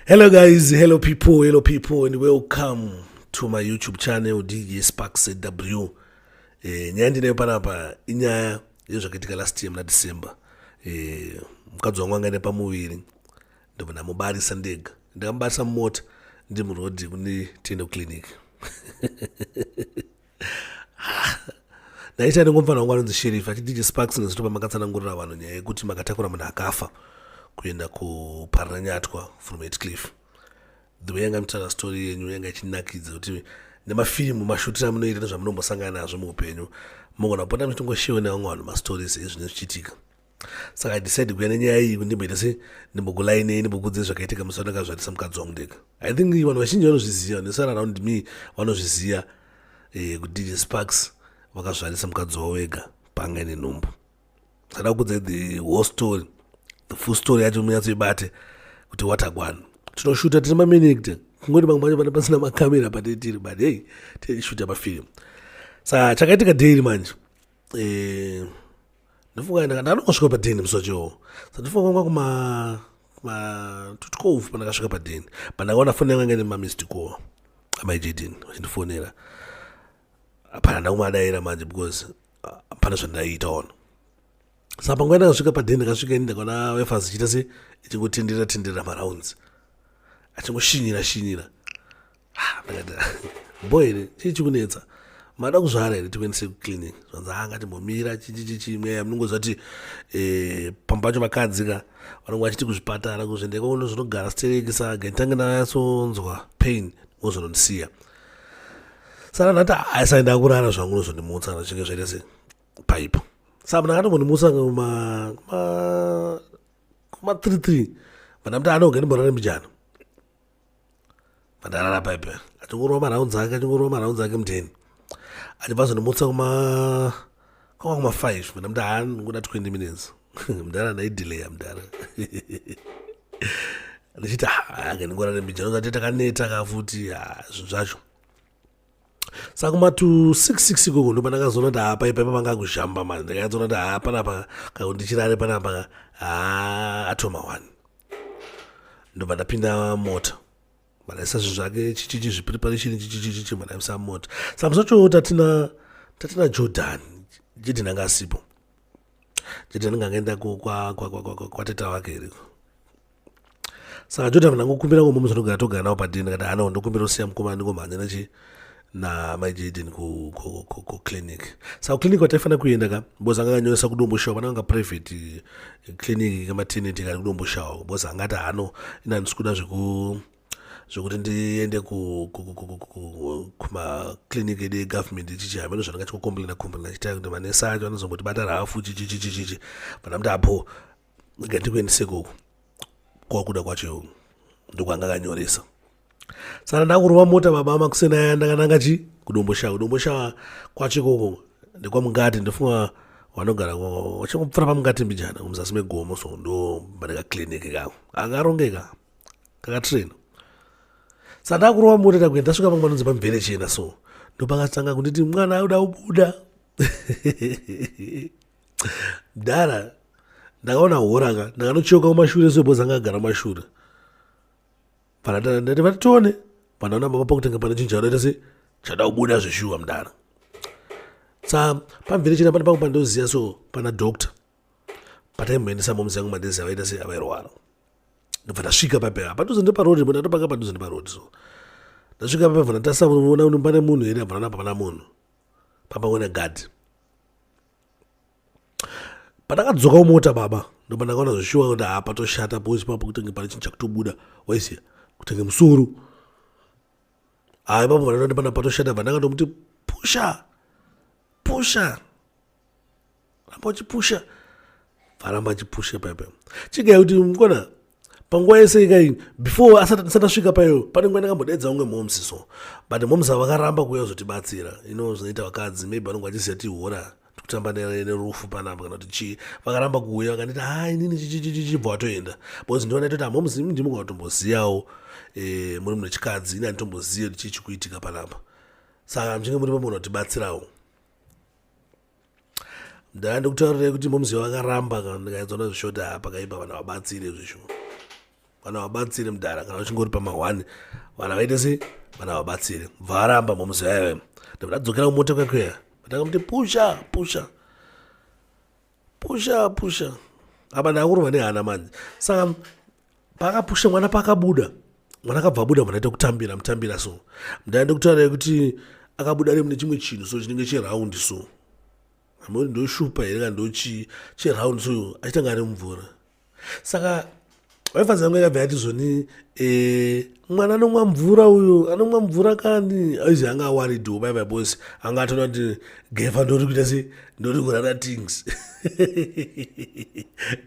Hello guys, hello people, hello people and welcome to my YouTube channel DJ Spark ZW. Eh, nyaya ndinayo panapa inyaya yezvakaitika last year muna December. Eh, mukadzi wangu anga ine pamuviri ndobva ndamubarisa ndega. Ndakamubarisa mumota ndi muroad kune Tendo Clinic. ndaita ndingomfana wangu anonzi sheriff achidj sparks nezvito pamakatsanangurira vanhu nyaya yekuti makatakura munhu akafa kuenda kuparinanyatwa from etcliff the way yanga mitaura story yenyu yanga ichinakidza kuti nemafirimu mashutiro amunoita nezvamunombosangana nazvo muupenyu mogona kupota muchitongoshiwe nevamwe vanhu mastories ezvine zvichiitika saka idecide kuya nenyaya iyi kundimboita se ndimbokulainei ndimbokudze zvakaitika musi wandakazvarisa mukadzi wangu ndega i think vanhu vazhinji vanozviziva vanosara around me vanozviziva eh, kuti dj sparks vakazvarisa mukadzi wavo vega panga ine nhumbu sada kukudza the whole story the full story yacho munyatsoibate kuti watagwana tinoshuta tine maminigte kungoti vamwe vacho vana pasina makamera patitiri but hei tiishuta pafilm sa chakaitika daily manje eh, ndofunga ndakangosvika padheni musoche wo sa ndofunga kwanga kuma kuma tutikovu pandakasvika padheni but ndakaona foni yanga ingaine mamist call amai jaden vachindifonera hapana ndakumadaira manje because hapana zvandaiita ono sa panguva ndakasvika padheni ndakasvika ini ndakaona wefas ichiita se ichingotendera tendera marounds achingoshinyira shinyira ah, boy chii chikunetsa mada kuzvara here tikuendese kuclinic zvanzi haa ngatimbomira chichichichi mweya munongoziva kuti eh, pamba pacho vakadzi ka vanonge vachiti kuzvipatara kuzvendeka uno zvinogara stereki saga nditange ndanatsonzwa pain wozonondisiya saka ndati haisai ndakurara zvangu unozondimutsa kana zvichinge zvaita se paipo saka mna akatombondimutsa kuma kuma three three vandamuti anogandimborare mujana pandarara paipe achingorova maraunzi ake achingorova maraunzi ake muteni achibva zvandimutsa kuma kwanga kuma five mna mda haa ndikuda twenty minutes mdara ndaidelaya mdara ndichiti haa ndingorare mbijano zati takaneta ka futi haa zvinhu zvacho saka kumatu 66 ikoko ndo pandakazoona kuti hapa ipaipa panga kuzhamba mani ndakanyatsoona kuti haa panapa kakundichirare panapa haa atoma one ndobva ndapinda mota madaisa zvinhu zvake chichichi zvipreparation chichichichichi madaisa mota saka musi wacho tatina tatina jordan jidin anga asipo jidin anga angaenda kwateta wake iriko saka jodha mna ngokumbira ngo mumwe zvinogara togara nawo padini kana hana ndokumbira usiya mukoma ndingomhanya nachi na mai jaden ku, ku, ku, ku clinic saka clinic wataifanira kuenda ka bcause anga akanyoresa kudomboshawa pana anga private eh, clinic kamateneti kari kudomboshawa bcause angati hano ina ndisikuda zveku zvekuti ndiende kumaclinic edu egovernment ichichi hameno zvandanga chikokomplena komplena chitakuti manesa acho anozongoti batara hafu chichichichichichi vana kuti apo rega ndikuendese ikoko kwakuda kwacho ndokwanga akanyoresa saka ndakurova mota baba makuseni aya ndakananga chi kudomboshawa kudomboshawa kwacho ikoko ndekwamungati ndofunga vanogara vachangopfura pamungati mbijana kumuzasi megomo so ndo paneka clinic kako akarongeka kakatraina saka ndakurova mota ndakuenda ndasvika pamwe panonzi pamvere chena so ndopakatanga kunditi mwana auda ubuda mdara ndakaona hora ka ndakanocheuka kumashure so bhozi anga agara mashure panandati vatone pandaona baba pakutanga pane chinhu chanoita se chada kubuda zveshuwa mdara sa pamvere china pane pangu pandoziva so pana doctor pataimboendesa moms yangu madezi avaita se avairwara ndobva ndasvika papera padhuze ndeparodi bo ndatopanga padhuze ndeparodi so ndasvika papera vana tasa unoona uno pane munhu here abva nana pamana munhu pamwe wena gadhi pandakadzokawo mota baba ndoba ndakaona zveshuwa kuti haa patoshata boys papo kutenge pane chinhu chakutobuda waisiya kutenge musoro haa ipapo vanoti pana patoshata bva ndakandomuti pusha pusha ramba uchipusha varamba achipusha pepe chigai kuti mukona panguva yese ikai before asati asvika payo pane nguva ndakambodaidza unge momsi so but momsi ava vakaramba kuuya kuzotibatsira ino zvinoita vakadzi maybe vanonge vachiziva tihora tikutamba nerufu panapa kana kuti chii vakaramba kuuya vakanditi ha inini chichichichibva watoenda because ndiona toti amomsi imi ndimuka vatomboziyawo eh, muri mune chikadzi ini anditombozive kuti chii chikuitika panapa saka muchinge muri pamunhu vatibatsirawo ndaa ndikutaurira kuti momzi vakaramba kana ndikaedza na zvishota apa kaipa vana vabatsire zvisho vana vabatsire mudhara kana uchingori pamahwani vana vaite se vana vabatsire bva aramba momzi vaive ndabva ndadzokera kumota kwekweya vatanga kuti pusha pusha pusha pusha apa ndakurova nehana manje saka paakapusha mwana paakabuda mwana akabva abuda mwana aita kutambira mutambira so mdaya ndokutaura yekuti akabuda ari mune chimwe chinhu so chinenge cheraundi so amuri ndoshupa here kana ndochii cheraundi so achitanga ari mumvura saka wife zangu yakabva yati zvoni e, mwana anomwa mvura uyo anomwa mvura kani aizi anga awaridiwo bai vabos anga atona kuti gefa ndori kuita se ndori kurara tings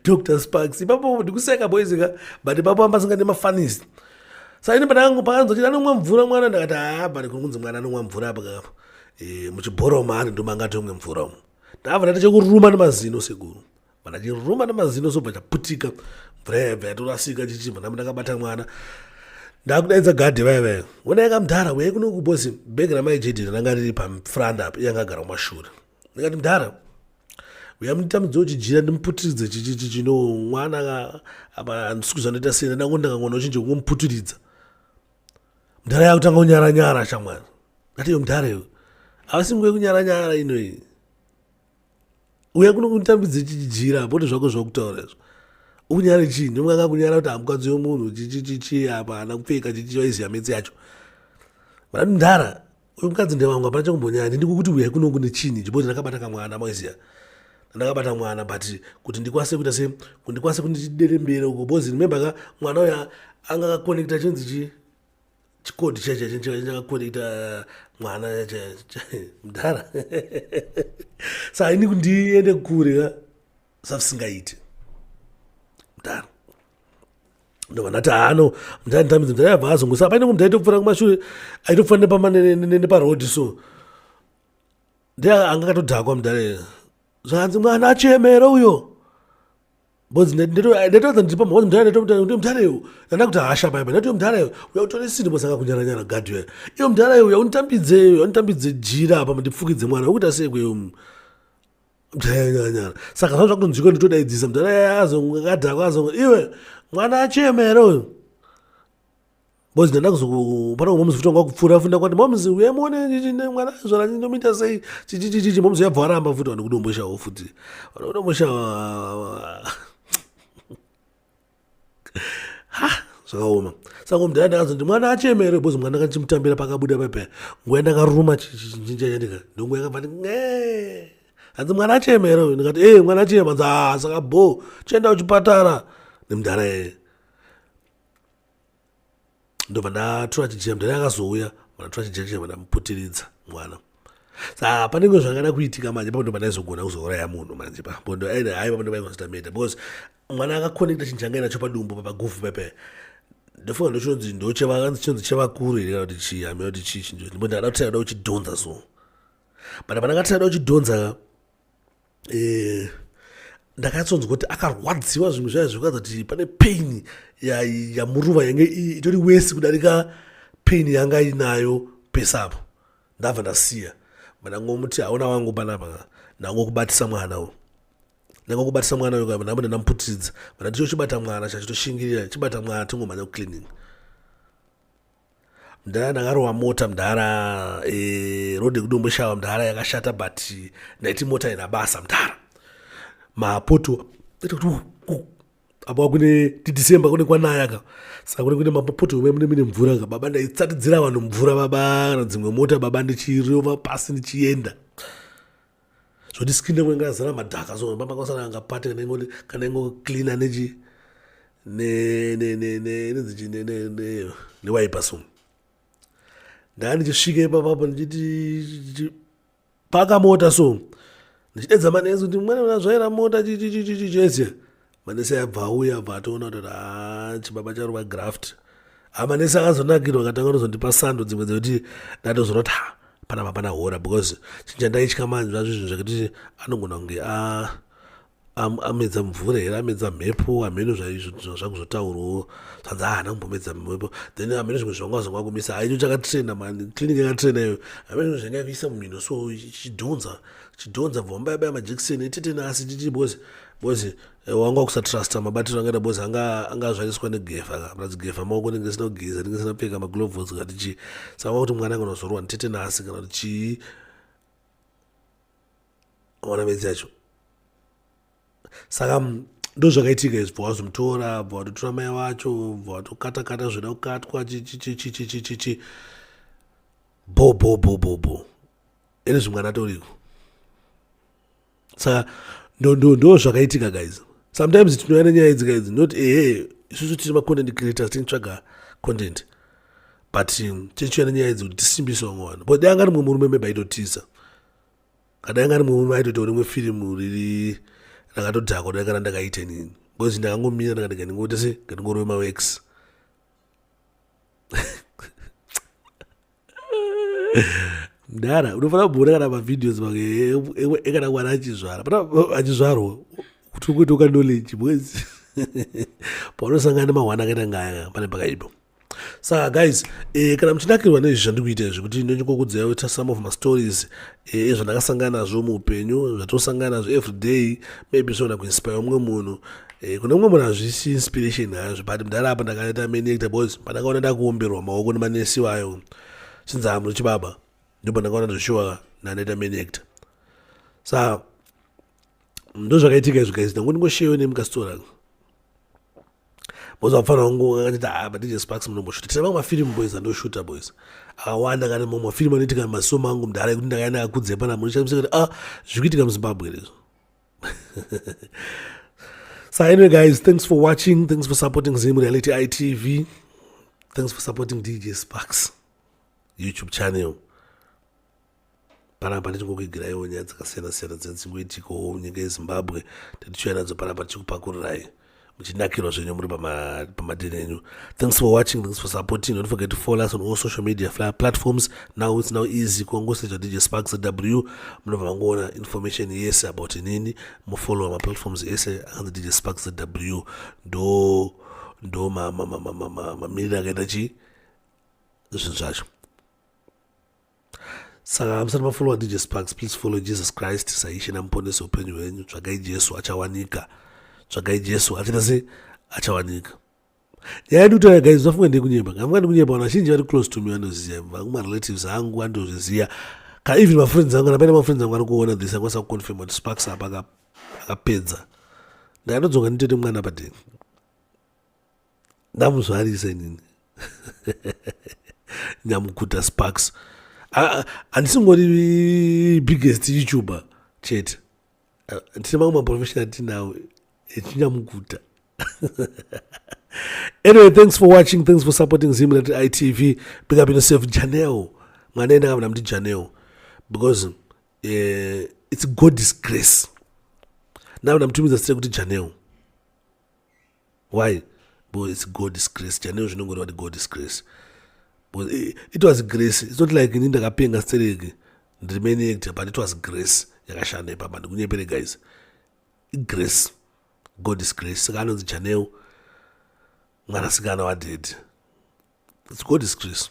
dr sparks ipapo ndikuseka boys ka but ipapo amba singa nemafanis saini pandangu pakanzwa chiti anomwa mvura mwana ndakati haa but kuri kunzi mwana anomwa mvura apa kapa e, eh, muchibhoro maari ndomanga tomwe mvura umu ndavana tichekuruma nemazino sekuru Vandachiruma namazino sobva chaputika mvura yaibva yatorasika chichibva ndambo ndakabata mwana ndakudaidza gadhi vaya vaya wona yaka mdhara weye kuno kubosi bhegi ramai jd ranga riri pafranda apo yanga agara kumashure ndikati mdhara uya munditambidza uchijira ndimuputiridze chichichi chino mwana apa handisi kuzvanoita sena ndango ndakangoona uchinje kungomuputiridza mdhara yakutanga kunyara nyara shamwana ndati yo mdhara yo avasi nguva yekunyara nyara inoyi uya kuno kunditambidze chichijira apo kuti zvako zvakutaura izvo ukunyara chii ndimukanga kunyara kuti hamukadzi yomunhu chichichichi apa hana kupfeka chichichi vaiziva metsi yacho vanati ndara uyu mukadzi ndevamwe hapana chakumbonyaya ndindiko kuti uyai kuno kune chinhi chiboti ndakabata kamwana maiziva ndakabata mwana but kuti ndikwanise kuita se kuti ndikwanise kundichiderembere uko bcoz remember ka mwana uya anga akakonekta chinzi chii chikoti chakakonekta mwana mudhara sa ini kundiende kure ka savisingaiti mudhara ndovanati hano mdanditambidza mdhara yabva azongosa paine kumdhara itokufana kumashure aitokufana nepama neparoad so ndeanga akatodhakwa mdhara zvakanzi mwana achemera uyo Bozi ndatoedza ndipa mhozi mdhara ndotomdhara kuti mdhara iwe ndanda kuti hasha baiba ndati mdhara iwe uya utore sini bozi akakunyara nyara gadhi uya iwe mdhara iwe uya unitambidze uya unitambidze jira apa ndipfukidze mwana ukuita sei kweyo mdhara nyara nyara saka zvangu zvakutonzwika nditodaidzisa mdhara yaya azongadhako azonga iwe mwana achemera uyo Boys ndanda kuzopana kumwe muzi kutongwa kupfura funda kwati momzi uye muone ndine mwana zvara ndinomuita sei chichichichichi momzi yabva aramba futi vanhu kudomboshawo futi vanhu kudomboshawo ha zvakaoma saka mdhara ndakazoti mwana achemere bozi mwana ndakachimutambira pakabuda pepe nguva yandakaruma chinja chandika ndonguva yakabva ndi nge hanzi mwana achemere uyu ndikati ee mwana achema hanzi haa saka bho chienda kuchipatara nemdhara yeye ndobva ndatura chijira mdhani akazouya vanatura chijira chava ndamuputiridza mwana sa panenge zvakada kuitika manje papo ndoba ndaizogona kuzouraya munhu manje papo ndo aida hai papo ndoba ingonzitameta because mwana akakonekta chinhu changa inacho padumbu papagufu pepe ndofunga ndochinonzi ndochevakanzi chinonzi chevakuru here kana kuti chii hamea kuti chii chinjo ndimbo ndakada kuti aida kuchidhonza so but pandakati aida kuchidhonza eh, ndakatsonzwa kuti akarwadziwa zvimwe zvaya zvekuratidza kuti pane pain yamuruva yange itori wesi kudarika pain yanga inayo pesapo ndabva ndasiya mandangomuti hauna wangu panapa ndangokubatisa mwana u ndangokubatisa mwana uyo kava ndambo ndandamuputidza mana ndicho chibata mwana chachitoshingirira chibata mwana tingomhanya kuclinic mdhara ndakarowa mota mdhara e, eh, rode kudomboshawa mdhara yakashata but ndaiti mota ina basa mdhara mapoto apa kune tidecember kune kwanaya ka saka kune kune mapoto ome mune mine mvura ka baba ndaitsatidzira vanhu mvura baba kana dzimwe mota baba ndichirova pasi ndichienda zvoti skin yangu yanga yazara madhaka so pamba kwasara anga pate kana ingo kana ingo cleaner nechi ne ne ne ne nedzichi ne ne ne ne wipe so ndanga ndichisvika ipapa apo ndichiti paka mota so ndichidedza manezi kuti mwana unazvaira mota chichichichichichese manese abva auya abva atoona kuti haa chibaba charova graft amanese akazonakirwa akatanga kutozondipa sando dzimwe dzekuti ndatozona kuti ha pana mapana hora because chinjandaitya manje zvazvo zvinhu zvekuti anogona kunge amedza mvura here amedza mhepo hameno zvaizvo zvakuzotaurwawo zvanzi haana kumbomedza mhepo then hameno zvimwe zvanga zvanga kumisa haicho chakatrena mani clinic yakatrena iyo hameno zvimwe zvanga kuisa mumhino so chidhonza chidhonza bvambayabaya majekiseni etetena asi titi because bozi eh, wanga wakusatrusta mabatiro angaita bozi anga angazvariswa negefa ka plus gefa maoko ndinge sina kugeza ndinge sina pfeka magloves kati chii saka kuti mwana anga unozorwa nditete nasi kana kuti chii ona midzi yacho saka mm, ndozvakaitika izvi bva wazomutora bva watotora mai wacho bva watokatakata zvoda kukatwa chichichichichichichi bo bo bo bo bo ini zvimwana toriko saka ndo zvakaitika guys sometimes tinouya nenyaya idzi kaidzi not ehe isusu tiri macontent creators tinitsvaga content but um, tichiuya nenyaya idzi kuti tisimbise vamwe vanhu but dai anga rimwe murume mebe aitotiza kadai anga rimwe murume aitoita rimwe firimu riri rakatodhakwa dai kana ndakaita inini because ndakangomira ndikati ngandingoita se ngandingorove mawex mdara unofanira kuona kana mavideos make ekana mwana achizvara pana achizvarwa kuti ukuita ukanoleji mwezi paunosangana nemahwana akaita ngaya pane pakaipa saka guys eh, kana muchinakirwa nezvi zvandikuita izvi kuti ndonyokokudzai ta some of mastories eh, ezvandakasangana nazvo muupenyu zvatosangana nazvo everyday maybe zvogona kuinspire umwe munhu Eh, kune mumwe munhu hazvisi inspiration hazvo but mudhara apa ndakaita menecta bcause pandakaona ndakuomberwa maoko nemanesi vayo since hamu chibaba ndipo ndakaona zveshuwa ndanaita menecta sa ndozvakaitika izvo guys ndangu ndingosheyo nemukasitora bcause vapfana vangu akatita ha ah, badj sparks munomboshuta tine vamwe mafirimu boys andoshuta boys akawanda kana mamwe mafirimu anoitika masomo angu mudhara ekuti ndakaenda akudzepa namuno chamusekuti a ah, zvikuitika muzimbabwe rezvo so anyway guys thanks for watching thanks for supporting zim reality itv thanks for supporting dj sparks youtube channel panapa tichingokuigiraiwo nyaya dzakasiyana-siyana dzinenge dzichingoitikawo munyika yezimbabwe tatichiuya nadzo panapa tichikupakuriraiwo muchinakirwa zvenyu muri pamadheni enyu thanks for watching thanks for supporting don't forget to follow us on all social media platforms now it's now easy kungosecha dj sparks w munobva mangoona information yese about inini mufollowa maplatforms ese akanzi dj sparks w ndo ndo mamiriro akaita chi zvinhu zvacho saka musati mafollowa dj sparks please follow jesus christ saishe namuponesi upenyu hwenyu tsvagai jesu achawanika tsvagai jesu achaita se achawanika nyaya yedu kutaura guys zvafunga ndekunyeba ngafunga ndekunyeba vanhu vazhinji vari close to me vanoziva vangu marelatives angu andozviziva ka even mafriends angu kana paine mafriends angu ari kuona this akwanisa kuconfirma kuti sparks apa akapedza ndakanodzoka nditoite mwana padeni ndamuzvarisa inini nyamukuta sparks handisingori biggest youtuber chete tine mamwe maprofessional tinawo echinyamukuta anyway thanks for watching thanks for supporting zimrat itv big up yourself janel mwana ene akavona kuti janel because uh, it's god's grace ndavona mutumidza site kuti janel why because it's god's grace chaneo zvinongoreva kuti god's grace because eh, it was grace it's not like ini ndakapenga stereki ndiri main actor but it was grace yakashanda ipapa ndikunyepere guys igrace god is grace saka anonzi janeu mwanasikana wadhedhi its god is grace